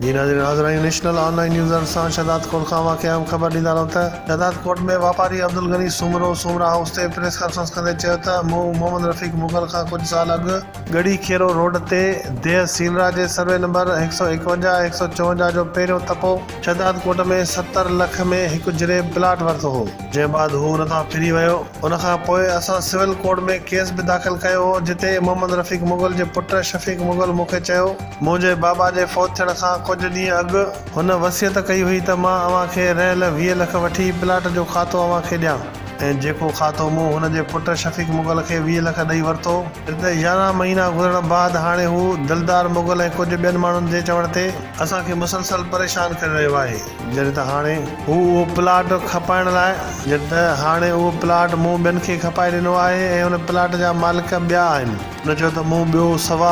جي ناظرين حاضرآهيون نيشنل آن لائين نيوزرن سان شهداد ڪوٽ کان واقعي اهم خبر ڏيندا رهون ته شهداد ڪوٽ ۾ واپاري عبدالغني سومرو سومرا هائوس تي پريس ڪانفرنس ڪندي چيو ته مون محمد رفيق مغل کان ڪجهه سال اڳ ڳڙهي کيرو روڊ تي ديهه سينرا جي سروي نمبر هڪ سؤ ايڪونجاهه ۽ هڪ سؤ چونجاهه جو پهريون تپو شهداد ڪوٽ ۾ ستر لک ۾ هڪ جريب پلاٽ ورتو هو جنهن بعد هو ان تان ڦري ويو ان کان پوء اسان سول ڪورٽ ۾ ڪيس به داخل ڪيو هو جتي محمد رفيق مغل جي پٽ شفيق مغل مون کي چيو منهنجي بابا جي فوت ٿيڻ کان ڪجهه ڏينهن اڳ هن وصيت ڪئي هئي ته مان اوهان کي رهيل ويهه لک وٺي پلاٽ جو کاتو اوهان کي ڏيان ۽ جيڪو کاتو مون هن جي پٽ شفيق مغل کي ويهه لک ڏئي ورتو هتي يارهن مهينا گذرڻ بعد هاڻي هو دلدار مغل ۽ ڪجهه ٻين ماڻهن جي چوڻ تي اسان کي مسلسل پريشان ڪري رهيو آهي جڏهن ته هاڻي هو اهو پلاٽ کپائڻ لاء. جڏهن ته هاڻي اهو پلاٽ مون ٻين کي کپائي ڏنو آهي ۽ ان پلاٽ جا مالڪ ٻيا آهن. هن چيو ته مون ٻيو سوا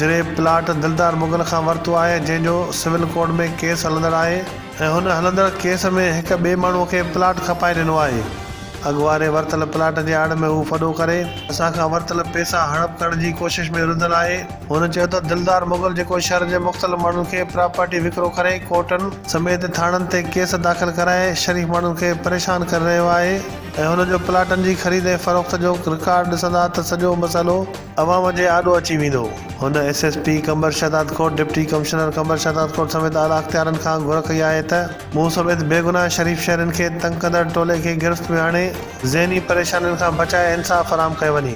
جري پلاٽ دلدار مغل کان ورتو آهي جنهن جو سول ڪورٽ ۾ ڪيس هلندڙ آهي ۽ هن هلندڙ ڪيس ۾ هڪ ٻئي ماڻهو کي پلاٽ کپائي ڏنو آهي اڳواڻي ورتل پلاٽ جي آڙ ۾ هو ڦڏو ڪري اسان کان ورتل پئسا هڙپ ڪرڻ جي ڪوشش ۾ رڌل آهي. هن چيو ته دلدار مغل جيڪو شھر جي مختلف ماڻهن کي پراپرٽي وڪرو ڪري ڪورٽن سميت ٿاڻن تي ڪيس داخل ڪرائي شريف ماڻهن کي پريشان ڪري رهيو آهي. ۽ هن جو پلاٽن جي خريد ۽ فروخت جو رڪارڊ ڏسندا ته سڄو مسئلو عوام جي آڏو اچي ويندو. هن S S P Qambar Shahdad Kot, deputy commissioner Qambar Shahdad Kot سميت اعليٰ اختيارين کان گهر ڪئي آهي ته مون سميت بيگناهه شريف شهرين کي تنگ ڪندڙ ٽولي کي گرفت ۾ آڻي ذهني پريشانين کان بچائي انصاف فراهم ڪيو وڃي.